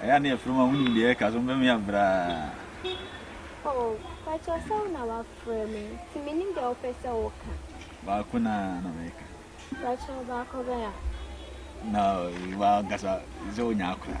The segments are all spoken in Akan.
Ɛyɛ ne ɛfrɛ mu a wonim deɛ ɛka so mbɛmi abraa. Oh, pakyɛ sɛ wo na wafrɛ me nti menim deɛ wopɛ sɛ woka. Baako na na meka. Pakyɛ baako bɛn a? Na wankasa sɛ wonya akora.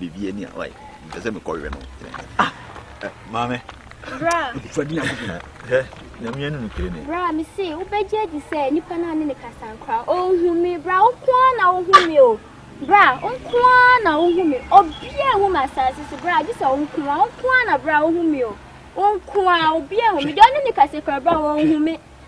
Baby ani a wai mpɛ sɛ mekɔ wɛ no ah eh, maame bra fadi na kobi hɛ nyame ani no kire ne bra me se wobɛgye adi sɛ nipa no a ne ne kasankora ɔnhu me bra wokoa na wohu me o bra wokoa na wohu me obia ehu me asase so bra gye sɛ wokoa wokoa na bra wohu me o wokoa obia ehu me deɛ ɔne ne kasankora bra wɔnhu me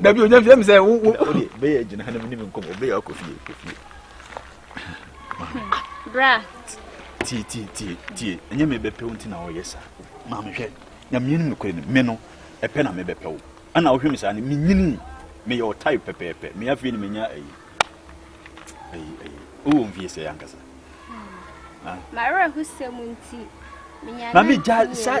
dabi onya fie mi sɛ wo wo. o de bɛyɛ gyina ha na mi ni mi nkɔmɔ bɛyɛ akɔ fie kɔ fie. bra. tie tie tie tie ɛnyɛ mi bɛ pɛw nti na ɔyɛ sa maame hwɛ nyamie ni mi kɔ ni mi no ɛpɛ na mi bɛ pɛw ɛna ɔhwɛ mi sa ni mi nyini mi yɛ ɔtai pɛpɛɛpɛ mi afei ni mi nya ɛyi ɛyi ɛyi o wɔ nfie sɛ yankasa. Hmm. Ah. màá rẹ̀ hó sẹ́mu ntì. na mi gya sa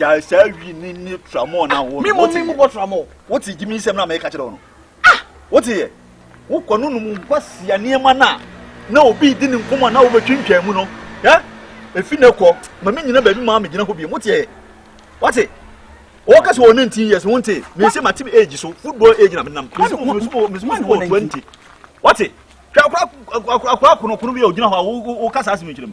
gyae saa wi ne ne tramɔɔ na wo. Mímɔ mi mu bɔ tramɔɔ. Wo te gyimi nsɛm na mɛka kyerɛ wo no. Ah! Wo te yɛ. Wo kɔ no nom nkwa sia nneɛma na na obi di ne nkɔmɔ na wobɛtwintwan mu no. Ɛ? Efi ne kɔ. Ma me nyina baabi maa me gyina hɔ bi. Wo te yɛ. Wo te. Wo kasa wɔ 19 years wo te. Me se ma te age so. Football age na me nam. Me se mo me se mo me se mo football 20. Wo te. Hwɛ akora akora akora kono kono bi a ogyina hɔ a wo kasa asem nkyerɛ mu.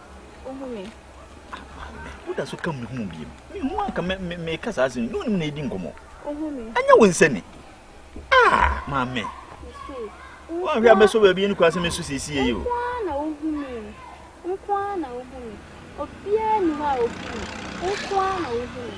Wohu me? Woda so ka mehu wo biom. Mehu anka meka saa asɛm. Ne wonim na ɛdi nkɔmmɔ. Wohu me? Ɛnyɛ wo nsɛ ni. Ah, maame. Woanhwɛ abɛsɔ baabi ne kura sɛ mesu siesie yi o. Nkoa na wohu me. Nkoa na wohu me. Obiara ni hɔ a wohu me. Nkoa na wohu me.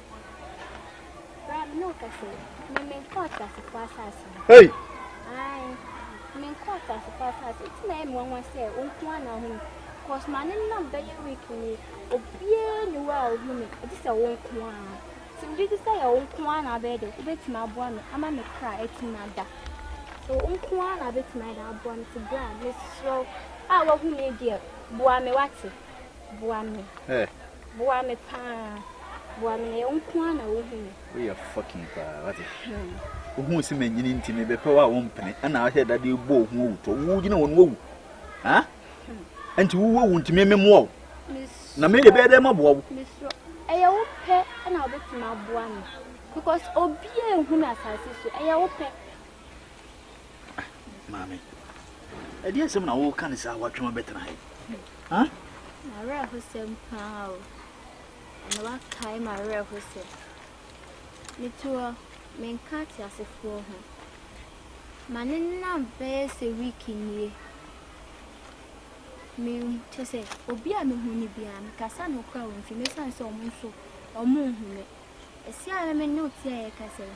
Hey! Cause ma ne nam bɛyɛ week ni obiara ni wa a ohu mi ɛti sɛ wo nko ara ti mi gye sɛ yɛ wo nko ara na abɛyɛ de wobɛtumi aboa mi ama mi kra ɛtumi ada so wo nko ara na abɛtumi ada aboa mi ti bra mi srɛ a wahu mi deɛ boa mi wate boa mi. Hey. Boa me paa boa me na yɛ nko ara na wohu me. Woyɛ fucking paa wate. Wohuu se manyini nti mebɛpɛ wo a wompene ɛna ahwɛ da de bɔ ohu owutɔ wo gyina wɔn wawu ha nti wo wawu nti me memoa wo na me de bɛyɛ dɛ maboa wo. Ɛyɛ wo pɛ ɛna wobɛtumi aboa me because obi a ehu na asase so ɛyɛ wo pɛ. Maame, ɛdeɛ asɛm na woka ne saa woatwam abɛtena ha yi? M'awerɛhosɛm paa o. Ɛna wakae m'awerɛhosɛm. Metu hɔ, menka ateasefoɔ ho. Ma ne nam bɛyɛ sɛ wiiki nie. Kyɛ sɛ obi a mehu no biara mekasa no koraa ɔmfi mu esiane sɛ wɔn nso wɔnhu me. Ɛsi a na me ne wo te a yɛkasa yi,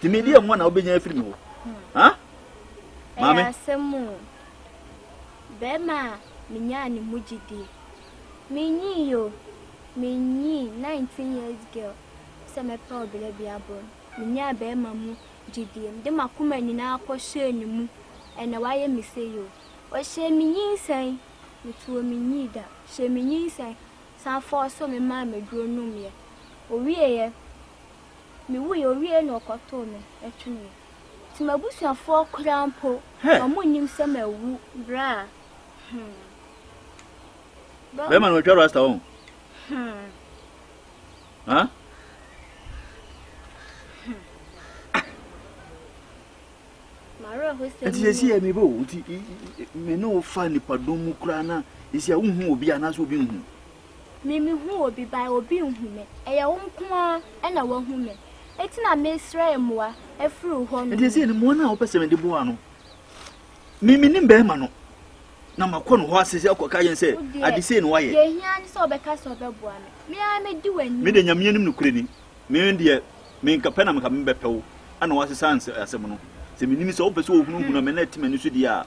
Tumi deɛ mu na wobɛnya afiri me hɔ. Ha? Maame. Ɛyɛ asɛm o. Bɛrima a menyaa ne mu gyidie. Menyii yo. Menyii 19 years girl sɛ mɛpɛ ɔbla bi aboro no. Menyaa bɛrima mu gyidie. Mede m'akoma nyinaa kɔhyɛɛ ne mu. Ɛnɛ wayɛ me sei o. Ɔhyɛɛ me nyinsɛn. Metu o menyii da. Ɔhyɛɛ me nyinsɛn. Ɔsan fɔɔso me maa m'aduro nomeɛ. Ɔwieeɛ, Miwui, owiei na wɔkɔtow me twene. Nti m'abusuafoɔ koraa mpo, wɔnnim sɛ mawu berɛ a hmm. Bɛrima no watwa rasta wɔn. Hmm. Huh? Hmm. nti yɛsi yɛ mebɛ o nti me ne wo fa nipadɔm mu koraa na ɛsi a wohu obi anaasɛ obi nhu Me me hu obi by obi nhu me ɛyɛ wo nko ara ɛna wahu me eti na me srɛ mmoa ɛfiri wo hɔ nom. Ɛdeɛ sɛ ne mmoa no a wopɛ sɛ me de boa no me me nim bɛɛma no na ma kɔ no hɔ ase sɛ akɔ ka yɛn sɛ ade sei na wayɛ. Deɛ ɛhia ne sɛ ɔbɛka sɛ ɔbɛboa me me ara me di w'anim. Me deɛ Nyame anim nokorɛ ni me deɛ me nka pɛ na me ka me bɛpɛ wo ɛna wasesa asɛm no sɛ me nim sɛ wopɛ sɛ ohunu hunu me na ɛte m'ani so deɛ a.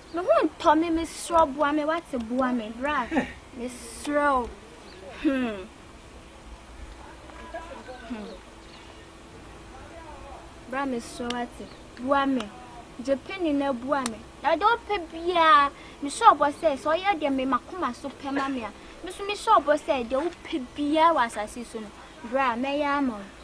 Me ho ntɔ me me serɛw boa me wate boa me bra me serɛw hmm. hmm. bra me serɛw wate boa me gye pini na boa me na de ɔpɛ biara me serɛw bɔ sɛ sɛ ɔyɛ deɛ me makoma so pɛ ma me a me so me serɛw bɔ sɛ deɛ wopɛ biara wɔ asase so no bra mɛyɛ ama wo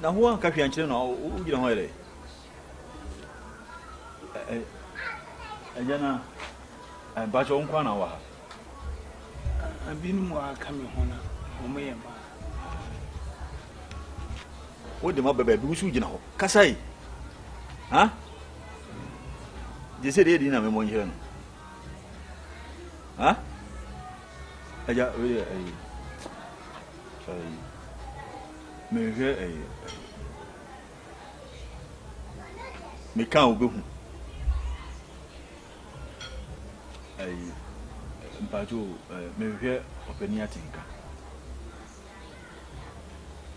Na woanka hwee ankyerɛ no a wogyina hɔ yɛ dɛ? Agya no a, mpakyɛ wo nkoa na wowɔ ha? Binom wɔ aka me ho na wɔyɛ mmaa. Wode ma bɛbɛ bi wo so gyina hɔ kasa yi ha gye sɛ deɛ ɛdi na memɔ nkyerɛ no ha Agya, wei yɛ ɛyi, ɛyi. Mehwɛ ɛyi, ɛyi. Meka a wobɛhu. Ɛyi, mpacho, ɛyi, mehwɛ ɔpani atenka.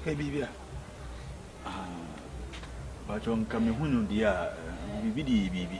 Hwɛ biribi a. Ah, mpacho, nka mehu no deɛ a, biribi de yɛ biribi.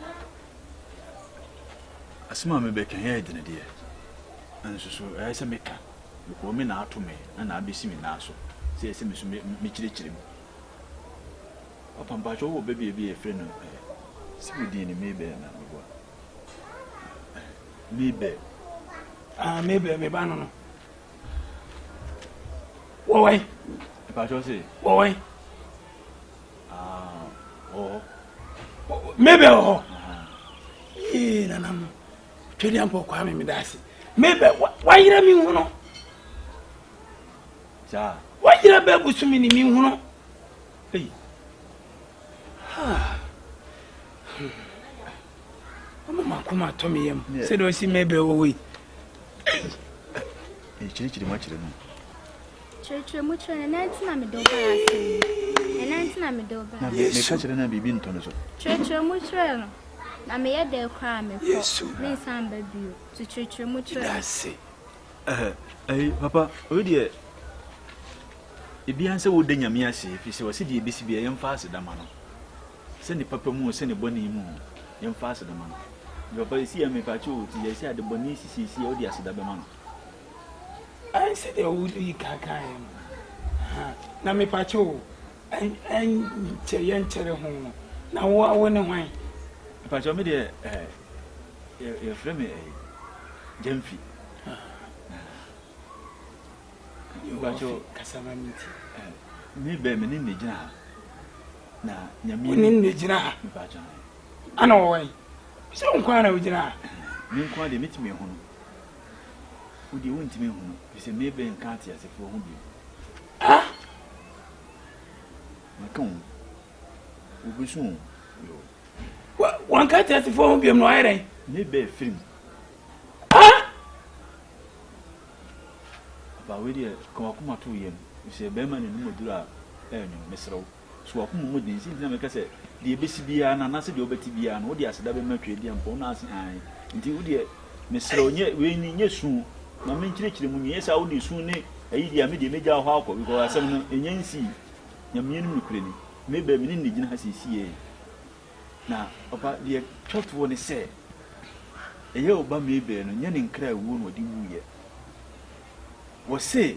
Na asem a mebɛka yi yɛ dene deɛ, nanso so ɛyɛ sɛ meka? Mekɔɔ me na ato me na na abɛsi me nan so sɛ ɛyɛ sɛ me nso mɛkyerɛkyerɛ mu. Papa, mpakyɛ wowɔ babia bi a yɛfrɛ no eh, se wo din ne Mabel na meboa? Eh, Mabel. Ah, Mabel, me ba no no. Wɔwɛn. Mpakyɛ se. Wɔwɛn. mebɛ wɔ ee nana no twɛdeɛ mpɔ kwaa me meda ase mebɛ wayerɛ me hu no wayerɛ bɛ busu me ne me hu no ei ɔma makoma tɔ me yam sɛdeɛ ɔsi mebɛ wɔ wei ɛkyirikyiri makyerɛ mu Kyerɛkyerɛ mu kyerɛ no. Ɛnɛ nti na mede wo baa ase yi. Ɛnɛ nti na mede wo baa. Yesu. Meka kyerɛ no a biribi ntɔ no so. Kyerɛkyerɛ mu kyerɛ no. Na meyɛ dɛɛ koraa a mekɔ. Yesu. Mensan mba bio. To kyerɛkyerɛ mu kyerɛ no. Meda ase. Ɛhɛ, ɛyi, papa, wei deɛ, ebiara sɛ woda Nyame ase, ɛfiri sɛ ɔse deɛ ɛbɛsi biara yɛmfa aseda ma no, sɛ ne papa mu o, sɛ ne bɔne mu o, yɛmfa aseda ma no. Nti papa, ɛsi a mepaakyɛ o, nti yɛ sɛ adebɔne sisi ɛsi a, wode aseda bɛma no. Ɛn sɛdeɛ wodii kan kaeɛ no, ha, na mepakyɛ o, ɛn, ɛn, kyɛ, yɛnkyɛre ho, na wo, wo ne hwan? Mepakyɛ o, me deɛ, ɛɛ, yɛ, yɛfrɛ me, ɛɛ, Gyamfi. Mepakyɛ o, kasa ma me ti. Me bɛ, me ne ne gyina ha, na nyame. Wo ne ne gyina ha? Mepakyɛ o. Ana ɔwɔ he? Sɛ wo nko ara na wogyina ha? Me nko ara deɛ, metumi ehunu. Wo deɛ wontumi nhunu firi sɛ Mabel nka ateasefoɔ ho bio. Ah! Maka o. Wobɛsu o. Yo. Wa, wanka ateasefoɔ ho biom na wayɛ dɛn? Mabel firi mu. Ah! Aba wei deɛ ka wakoma to yam. Firi sɛ bɛrima na anim aduru a ɛyɛ nwom. Mesrɛ wo. So w'akoma mu den? Nti nti na meka sɛ, deɛ ɛbɛsi biara no, anaasɛ deɛ wobɛte biara no, wodeɛ aseda bɛma Tweaduam mpo, na ase hann. Nti wodeɛ, mesrɛ wo, nyɛ, wei ni, nyɛ su, ma menkyerɛkyerɛ mu, nyɛ saa, wodeɛ su ne ayi deɛ a, medeɛ mɛgya wo hɔ akɔ, because asɛm no, ɛnya nsii. Nyameɛ no mu nokorɛ ni. Mabel, mene no na ɛgyina ha seesei ei. Na, papa, deɛ ɛtwa toɔ ne sɛ, ɛyɛ wo ba Mabel no, nyɛ ne nkra awuo na ɔde wuiɛ. Wɔse,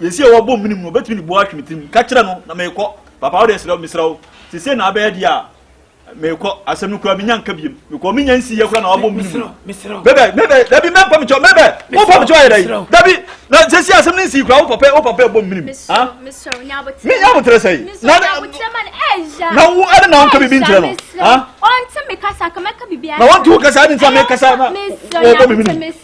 Yɛsi a wɔbɔ mene mu no, ɔbɛtumi de boɔ atwe me tirim. Ka kyerɛ no na merekɔ. Papa, wode serɛ mesrɛ wo. Sesei na abɛyɛ deɛ a, merekɔ. Asɛm no koraa menya nka biom. Mekɔ menya nsi yɛ koraa na wabɔ mene mu. Mebɛ, mebɛ, dabi mɛmpa mekyɛw, mebɛ, wo mpa mekyɛw ayɛ dɛ. Dabi, na sesei asɛm no nsi koraa, wo papa, wo papa ɛbɔ mene mu. Ha? Menya abotrɛ sɛi. Na, na wo, ɛde na wonka bibi nkyerɛ no. Ha? Na wonte wo kasa, ɛde nsa mekasa na wɔbɔ mene mu.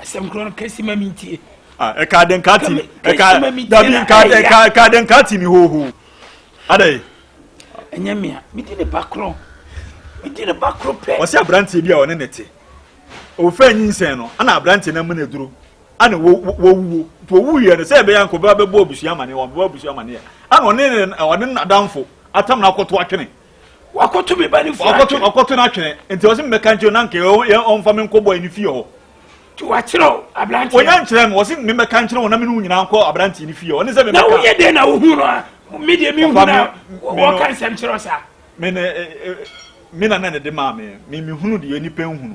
asɛm korɔ no kɛsi ma mentie ah, ɛka de nka ti dabi ɛka de nka ti mi hoho adɛ ɛnyɛ mea medi ne ba korɔ medi ne ba korɔ pɛ ɔsɛ aberanteɛ bi a ɔne ne te ɔfɛ nyinsɛn no ana aberanteɛ no amene duro ana wɔwuo nti ɔwuiɛ no sɛ ɛbɛyɛ nkɔbɛ bɛbɔ abusua amaneɛ wɔbɛbɔ abusua amaneɛ ana ɔne ɔne n'adamfo atam no akɔto atwene wakoto me ba ne fie atwene ɔkɔto no atwene nti ɔse mebɛka nkyerɛ na nka ɔmfa me nkɔbɔ ɛne fie hɔ nti wakyerɛ wo aberanteɛ ɔnya nkyerɛ me ɔse mebɛka nkyerɛ wo na mene wo nyinaa nkɔ aberanteɛ ne fie hɔ ɔne sɛ mebɛka na woyɛ dɛn na wohu no a me deɛ mehu no a wɔka nsɛm kyerɛ wo saa me na na ne de maa me mehunu deɛ nipa nhunu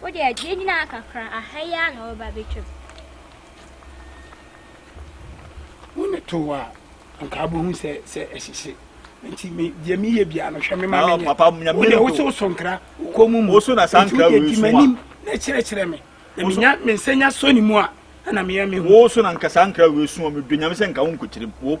Wo deɛ gyina gyina ha kakra aha yi ara na wo ba bɛtwa mu. Wo ne to wo a anka wobɛhu sɛ sɛ ɛhyehye nti me deɛ meyɛ biara no hwɛ me ma menyɛ wo deɛ wo so so nkra wo kɔn mu mu nti wo deɛ di m'anim na kyerɛkyerɛ me na menya me nsa nya sɔ ne mu a ɛna meyɛ me ho. Wo so na nka saa nkra wei so a medwe nyame sɛ nka wo nkɔkyerɛ mu wo.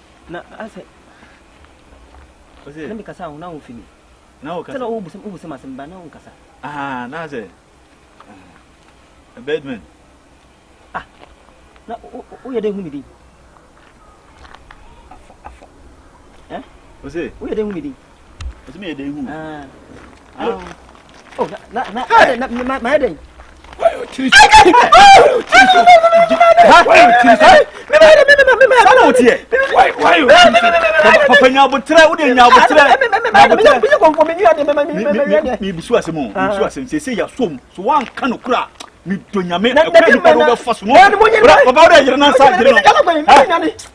Na asɛ na mekasa a wo na womfi me sɛ na wobusam asɛm ba na wonkasa na asɛ Birdman ah na woyɛ dɛn hu me din woyɛ dɛn hu me din ɛtumi yɛ dɛn hu mayɛ dɛn papa nya aboterɛ wode nya aboterɛmebusu asɛm o mebusu asɛm sɛ sɛ yɛasom so woanka no kora medɔ nyame ɛkwa nipa no wobɛfa so no papa wode yere no nsa gyere no